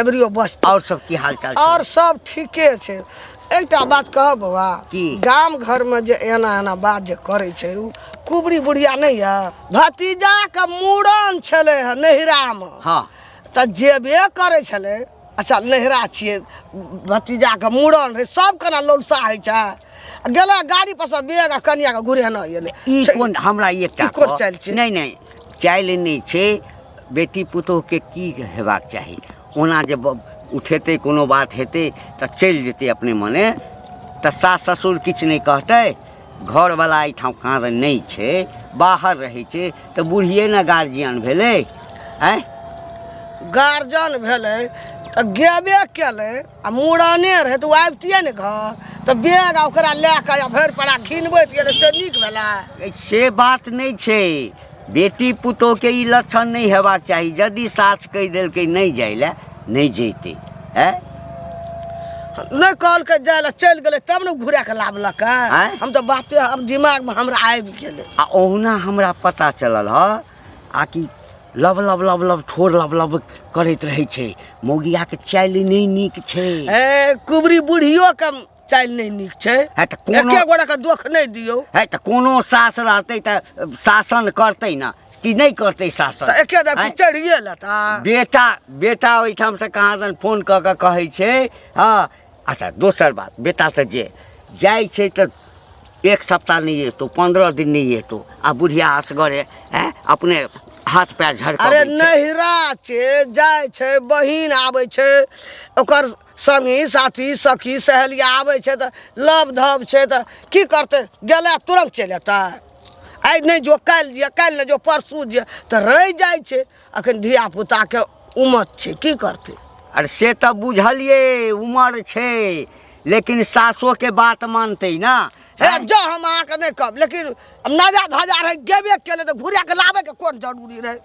एबरियो बस और सब की हाल चाल और सब ठीके छै एकटा बात कह बौआ की गाम घर में जे एना एना बात जे करे छै उ कुबरी बुढ़िया नहीं है भतीजा के मूड़न छले है नहिरा में हां त जेबे करे छले अच्छा नहिरा छिए भतीजा के मूड़न रे सब कना लोलसा है छै गेला गाड़ी पर से बेग आ कनिया के घुरेना एले ई छै- कोन हमरा एकटा ई कोन कह- चालि छै? नहि नहि चालि नहि छै बेटी पुतोहके की हेबाक चाही ओना जे ब- उठेतै कोनो बात हेतै तऽ चलि जेतै अपने मने तऽ सास ससुर किछु नहि कहतै घरवला एहिठाम काँर नहि छै बाहर रहै छै तऽ बुढ़िए ने गार्जियन भेलै आँय गार्जियन भेलै तऽ गेबे केलै आ मूड़ने रहै तऽ ओ आबितियै ने घर तऽ बैग आ ओकरा लए कऽ आ भरि पड़ा घिनबैत गेलै से नीक भेलै से बात नहि छै बेटी पुतोहके ई लक्षण नहि हेबाक चाही यदि सास कहि देलकै नहि जाय लए नहि जैते है नहि कहलकै जाय लए चलि गेलै तब ने घुरा कऽ लाबलक आँय? हम तऽ बाते आब दिमागमे हमरा आबि गेलै आ ओहुना हमरा पता चलल ह आ कि लब लब लब लब ठोर लब लब करैत रहै छै मौगियाके चालि नहि नीक छै ए कुबरी बुढ़ियो के चालि नहि नीक छै है तऽ कोनो एके गोरा के दोख नहि दियौ है तऽ कोनो सास रहतै तऽ शासन करतै ने कि नहि करतै शासन तऽ एके दफी आँय? चढ़िए लेता बेटा बेटा ओहिठामसँ कहाँ दन फोन कऽ कऽ कहै छै हँ अच्छा दोसर बात बेटा तऽ जे जाइ छै तऽ एक सप्ताह नहि एतौ पंद्रह दिन नहि एतौ आ बुढ़िया असगरे हैं अपने हाथ पैर अरे झड़का नहिरा छै जाइ छै बहिन आबै छै ओकर संगी साथी सखी सहेली आबै छै तऽ लव धब छै तऽ की करतै गेला तुरंत चलि अयतै आइ नहि जो काल्हि दिअ काल्हि नहि जो परसू दिअ तऽ रहि जाइ छै अखन धिया पुता के उमर छै की करते अरे से तऽ बुझलिए उमर छै लेकिन सासो के बात मानते ना हे जो हम अहाँ के नहीं कहब लेकिन हम नाजा धाजा रहे गेबे केले तो घुरा के लाबे के कोन जरूरी रहे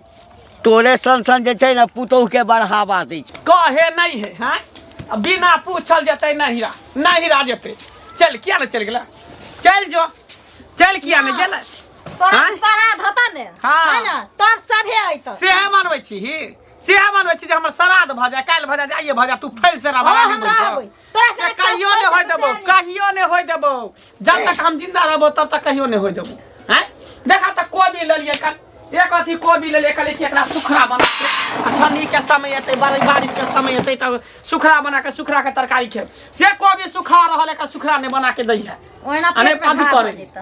तोरे सन सन जे छै ना पुतोह के बढ़ावा दै छै कहे नहीं है हाँ? आ बिना पूछल जते नहिरा नहिरा जते चल किया ने चल गेला चल जो चल किया ने गेला तोरा आँय? श्राद्ध हता ने हाँ। है ना तब सभे अइतौ सेहे मनबै छी ही सेहे मनबै छी जे हमर श्राद्ध भऽ जाय काल्हि भऽ जाय जे आइये भऽ जाय तू फैल से हाँ, राबा हम रहबै। तोरा से से कहियो खास नहि होय करके देबौ तैयारी। कहियो नहि होय देबौ जब तक हम जिंदा रहबौ तब तक कहियो नहि होय देबौ हैं देखा तऽ कोबी लेलियै कल एक अथी कोबी लेलियै कहलियै कि एकरा सुखड़ा बना के आ ठंडी के समय एतै बारि- बारिश के समय एतै तब सुखड़ा बना के सुखड़ा के तरकारी खेब से कोबी सुखा रहल एकर सुखड़ा नहि बना के दै है ओहिना आ नहि पेट मे पाँति घाव पड़ै। भऽ जेतौ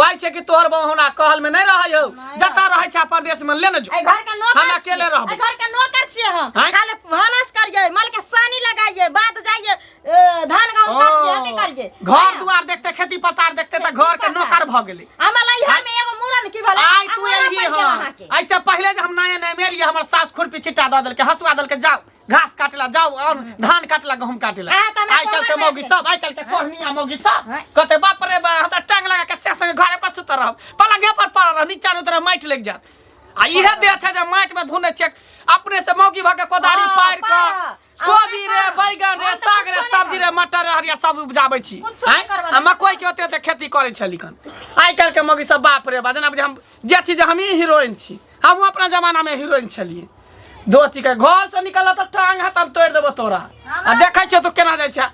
कहै छै कि तोहर बहू हमरा कहल में नहीं रहै हो नहीं जतऽ रहै छै अपन देश में ले न जो ए घर के नौकर हम अकेले छियै। रहबै। ए घर के नौकर छियै हम हैं? खाले भानस करिए माल के सानी लगाइए बात जाइए ए, धान गहूं काटिए हते करिए घर दुआर देखते खेती पथार देखते तऽ घर के नौकर भऽ गेलै हमरा इहा में एगो मूरन की भला आइ तू एलिही हँ ऐसे पहिले जे हम नया नया मेलिए हमर सास खुरपी छिट्टा दऽ देलकै हसुआ देलकै जाओ घास काटेला जाओ और धान काटेला गहूम काटेला हाँ, तो हमरा आइ काल के कोमल मौगी बात सब आइ काल के कोहनिया मौगी सब हाँ। कहते बाप रे बा हम त टांग लगा के से संगे घरे पर सुत रहब पलंगे पर पड़ रह नीचा नु तरह माइट लग जात आ इहे दे अच्छा जे माइट में धुने चेक अपने से मौगी भके कोदारी हाँ, पार के पार। कोबी रे हाँ, बैगन रे हाँ, तो साग रे कुछो नहीं सब्जी रे मटर रे हरिया सब उपजाबै छी कुछो आँय? नहीं करबै। आ मकई के ओते ओते खेती करै छली कन आइ काल के मौगी सब बाप रे बा जेना बुझे हम जे छी जे हमही हीरोइन छी हमहूँ अपना जमानामे हीरोइन छलियै दोचीके घरसँ निकलऽ तऽ टांग हाथ हम तोड़ि देबौ तोरा आ देखै छियौ तू केना जाइ छै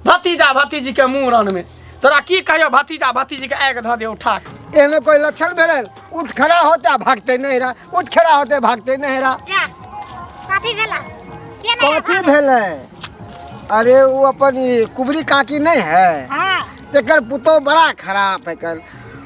भतीजा भतीजीके मूड़नमे तोरा की कहियौ भतीजा भतीजीके आगि धऽ दे उठा कऽ एहने कोई लक्षण भेलै उठ खड़ा होते आ भागते नहीं रहा उठ खड़ा होते भागते नहीं रहा जा कथी भेला के नहि कथी भेलै अरे वो अपन ई कुबरी काकी नहीं है हाँ तेकर पुतोह बड़ा खराब है कल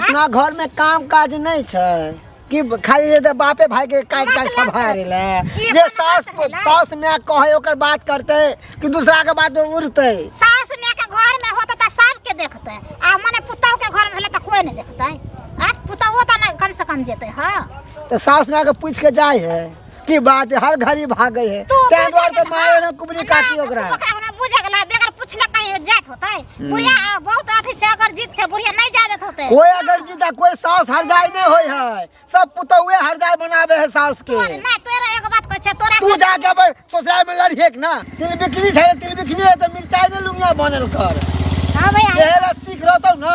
अपना घर में काम काज नहीं छै कि खाली ये तो बापे भाई के काज काज सब हारे ले ये सास सास में कहे ओकर बात करते कि दूसरा के बात उड़ते सास माय के घर में होते त सब के देखते आ मने पुतौ के घर में होले त कोई नहीं देखते आ पुतौ त ना कम से कम जेते हां तो सास माय के पूछ के जाए है की बात है हर घड़ी भागे है तू ते बुझे द्वार के तो ना। मारे ना कुबरी काकी ना, ओकरा तू ओकरा हमरा बुझे के ना बेगर पूछले कहीं जात होतै बुढ़िया आ, बहुत अथी छै अगर जीत छै बुढ़िया नहीं जा देत होतै कोई अगर जीता कोई सास हर जाए नहीं होय है सब पुतौए हर जाए बनावे है सास के तोरे ना तोरे एगो बात कहै छै तोरा तू जाके अपन ससुराल में लड़िए के ना तिल बिकनी छै तिल बिकनी है तो मिर्चाई ने लुंगिया बनल कर हां भैया एहे ला सीख रहतौ ना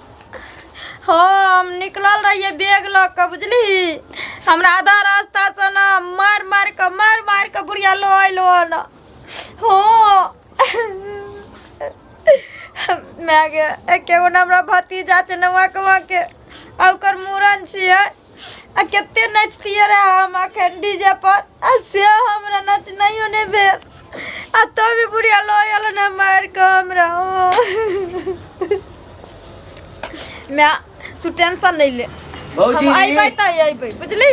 हाँ हम निकलल रहिए बैग लऽ कऽ बुझली हमरा आधा रास्तासँ ने मारि मारि कऽ मारि मारि कऽ बुढ़िया लऽ अयलो ने हाँ माय गे एके गो ने हमरा भतीजा छै नौआ कौआके आ ओकर मूड़न छियै आ कते नचतियै रे हम अखन डीजे पर आ से हमरा नचनाइयो नहि भेल आ तो भी बुढ़िया लो आयल ने मार के हमरा मैं तू टेंशन नहीं ले हम अबे तो अबे बुझली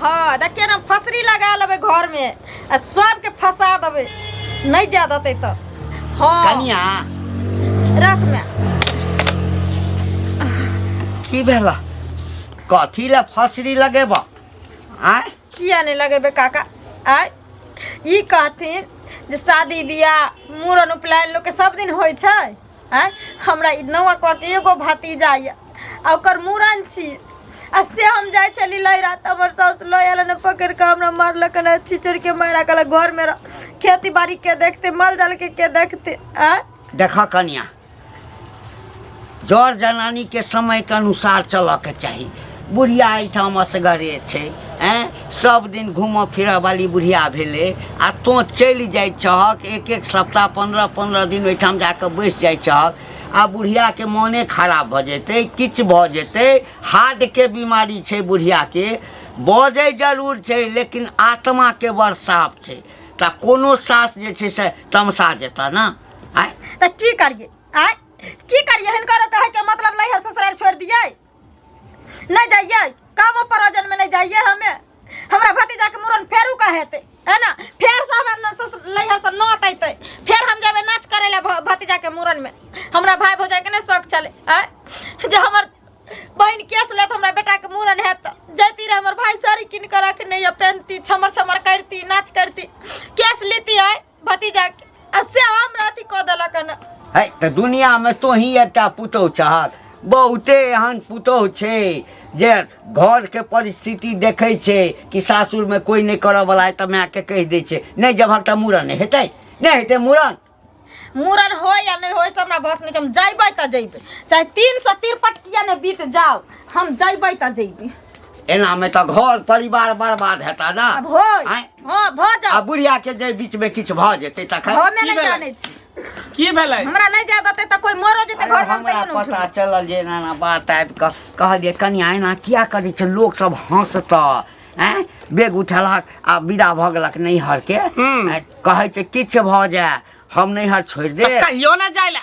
हाँ देखिए ना फसरी लगा लेबे घर में आ सबके फंसा देबै नहि जाए देतै तऽ हँ कनिया रख मे की भेला कथी ले फसरी लगेब आय किया नहि लगेबै काका आय ई कहथिन जे शादी बियाह मूड़न उपनयन लोकके सब दिन होइ छै आँय हमरा ई नौआ कह के एगो भतीजा ये आ ओकर मूड़न छी आ से हम जाय छली लहरा त हमर साउस लय आयल ने पकड़ के हमरा मारलक ने छिचड़ के मारा कल घर में रह खेती बाड़ी के देखते माल जाल के के देखते आँय देख कन्या जर जनानी के समय के अनुसार चलऽ के चाही बुढ़िया एहिठाम असगरे छै एँ सब दिन घूमऽ फिरऽ वाली बुढ़िया भेलै आ तोँ चलि जाइ छहक एक एक सप्ताह पन्द्रह पन्द्रह दिन ओहिठाम जा कऽ बैस जाइ छहक आ बुढ़ियाके मोने खराब भऽ जेतै किछु भऽ जेतै हार्टके बीमारी छै बुढ़ियाके बजै जरूर छै लेकिन आत्माके बड़ साफ छै तऽ कोनो सास जे छै से तमसा जेता ने आँय तऽ की करिए आँय की करिए हिनकर कहैके मतलब लै है ससुराल छोड़ि दियै नहीं जाइए कामो परोजन में नहीं जाइए हमें हमरा भतीजा के मुरन फेरू का हेते है ना फेर से हमर न- ससुर लैहर से नौत अइतै फेर हम जेबै नाच करै लए भ- भतीजा के मुरन में हमरा भाय भौजाई के नहि शौक छलै आय जे हमर बहिन केस लेत हमरा बेटा के मुरन हैत तऽ जैती रहे हमर भाय साड़ी कीन कऽ रखने यऽ पेन्हती छमर छमर करती नाच करती केस लेती आय भतीजा के आ से हमरा अथी कऽ देलक हन है तऽ दुनियामे तोही एकटा पुतहु छहक बहुते एहन पुतहु छै जे घरके परिस्थिति देखै छै कि सासुरमे कोइ नहि करऽवला अइ तऽ मायके कहि दै छै नहि जेबहक तऽ मूड़न नहि हेतै नहि हेतै मूड़न मूड़न होय या नहि होय से हमरा बस नहि छै हम जैबै तऽ जैबै चाहे तीन सौ तिरपट किया ने बीत जाओ हम जैबै तऽ जैबै एनामे तऽ घर परिवार बर्बाद हेता ने आब होय आँय हँ भऽ आ जाओ बुढ़िया के जे बीच में किछु भऽ जेतै तखन हमे की नहि भेलै? जानै छी की भेलै हमरा नहि जाए देतै तऽ कोइ मरो जेतै अरे घर में हमरा कहियो पता उठबै चलल जे एना एना बात आबि कऽ कहलियै कनिया एना किया करै छै लोक सब हँसतऽ आँय बेग उठेलक आ विदा भऽ गेलक नैहरके हूँ। आँय, कहै छै किछु भऽ जाय हम नैहर छोड़ि दे कहियो ना जाइला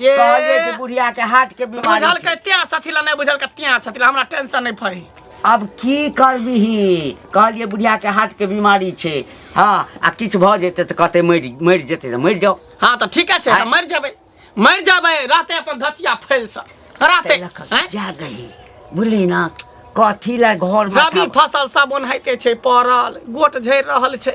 ये कहलिए कि बुढ़िया के हार्ट के बीमारी बुझल छै। के त्यां सथिला नहीं बुझल के त्यां सथिला हमरा टेंशन नहीं फरी अब की करबिही कहलिए बुढ़िया के हार्ट के बीमारी छै हाँ आ किछु भऽ जेतै तऽ कहतै मरि मरि जेतै तऽ मरि जाउ हाँ तो ठीक है छै आय। मर जाबे मर जाबे राते अपन धचिया फैल सा राते ताहि लऽ कऽ हैं? जा गही बुझली ना कथी लए घर रबी फसल सब ओनाहिते छै पड़ल गोट झड़ि रहल छै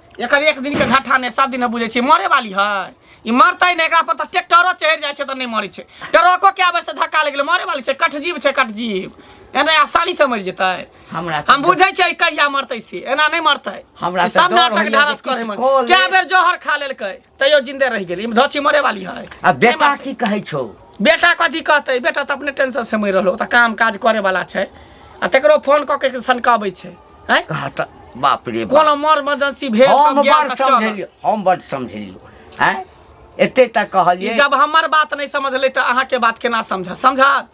एकर एक दिन के ढट्ठा ने सब दिन बुझे छे मरे वाली है ई मरतै ने एकरा पर त ट्रैक्टरो चढ़ जाय छे त नहीं मरे छे ट्रको के आबे से धक्का लग गेल मरे वाली छे कट जीव छे कट जीव एने आसानी से मर जेतै हमरा तऽ हम बुझे छे कहिया मरतै से एना नहीं मरतै हमरा ई तऽ सब डर नाटक होइए जे ढारस करे किछु में कऽ ले। कै बेर जहर खा लेलकै तैयो जिंदे रह गेली धची मरे वाली है आ बेटा की कहै छौ बेटा कथी कहतै बेटा तऽ अपने टेंशन से मरि रहलो तऽ काम काज करे वाला छै आ तकरो फोन कऽ के सनकाबै छै हैं कहा तऽ बाप रे बाप कोनो मर इमरजेंसी भेल हम तब गेल बड़ तऽ चल समझलियो हम बड़ समझलियो हैं एते तक ई कहलिए जब हमर बात नहीं समझले तऽ अहाँ के बात केना समझ समझत